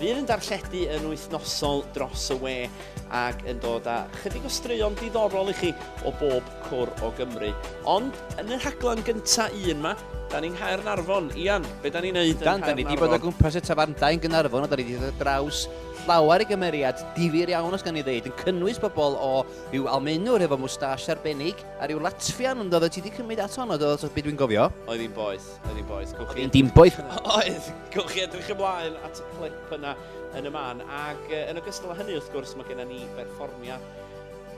Bydd yn darlledu yn wythnosol dros y we ac yn dod â chydig o straeon diddorol i chi o bob cwr o Gymru. Ond yn y rhaglen gynta un 'ma, da ni'n Nghaernarfon. Ian, be da ni'n neud yn Nghaernarfon? Da ni wedi bod o gwmpas y tafarndai yn Gaernarfon a da ni wedi dod draws llawer i gymeriad difyr iawn os gan ni ddeud, yn cynnwys pobl o rhyw almenwr efo mwstash arbennig a rhyw latfian yn dod o ti wedi cymryd at honno do, so beth dwi'n gofio? Oedd hi'n boeth. Oedd hi'n boeth. Oedd hi'n dim boeth. Oedd. Gwch chi edrych ymlaen at y clip yna yn y man. Ac yn ogystal â hynny, wrth gwrs, mae gennym ni berfformiad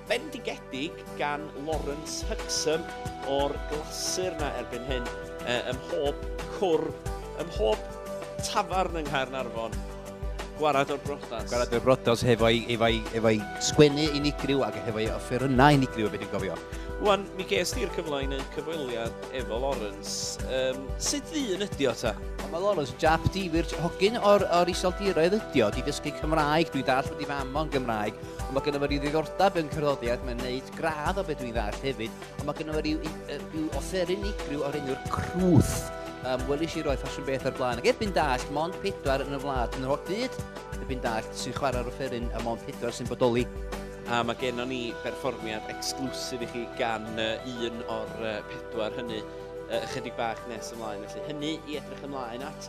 bendigedig gan Lawrence Huxham o'r glasur yna erbyn hyn ym mhob cwr, ym mhob tafarn yng Nghaernarfon. Gwared o'r brodas. Gwared o'r brodas hefo'i efo'i efo'i sgwennu unigryw ac hefo'i offerynnau unigryw y beth i'n gofio. Wan, mi ges ti'r cyfle i wneud cyfweliad efo Lawrence. Um, sut ddyn ydi o ta? Mae Lawrence jap difyr, hogyn o'r, or iseldiroedd ydi o, di dysgu Cymraeg, dwi'n dall bod i fam o'n Gymraeg, ond mae gennym fo ryw ddiddordeb yn cyroddiad, mae'n neud gradd o beth dwi'n dall hefyd, Ond mae gynnu fe rhyw, rhyw offer unigryw o'r enw'r crwth. Um, Welis i roi ffasiwn beth ar blaen. Ac erbyn dall, mond pedwar yn y wlad yn yr holl byd. Erbyn dall, sy'n chwarae'r offeryn a mond pedwar sy'n bodoli. A mae gennon ni berfformiad exclusif i chi gan uh, un o'r uh, pedwar hynny uh, ychydig bach nes ymlaen. Felly hynny i edrych ymlaen at.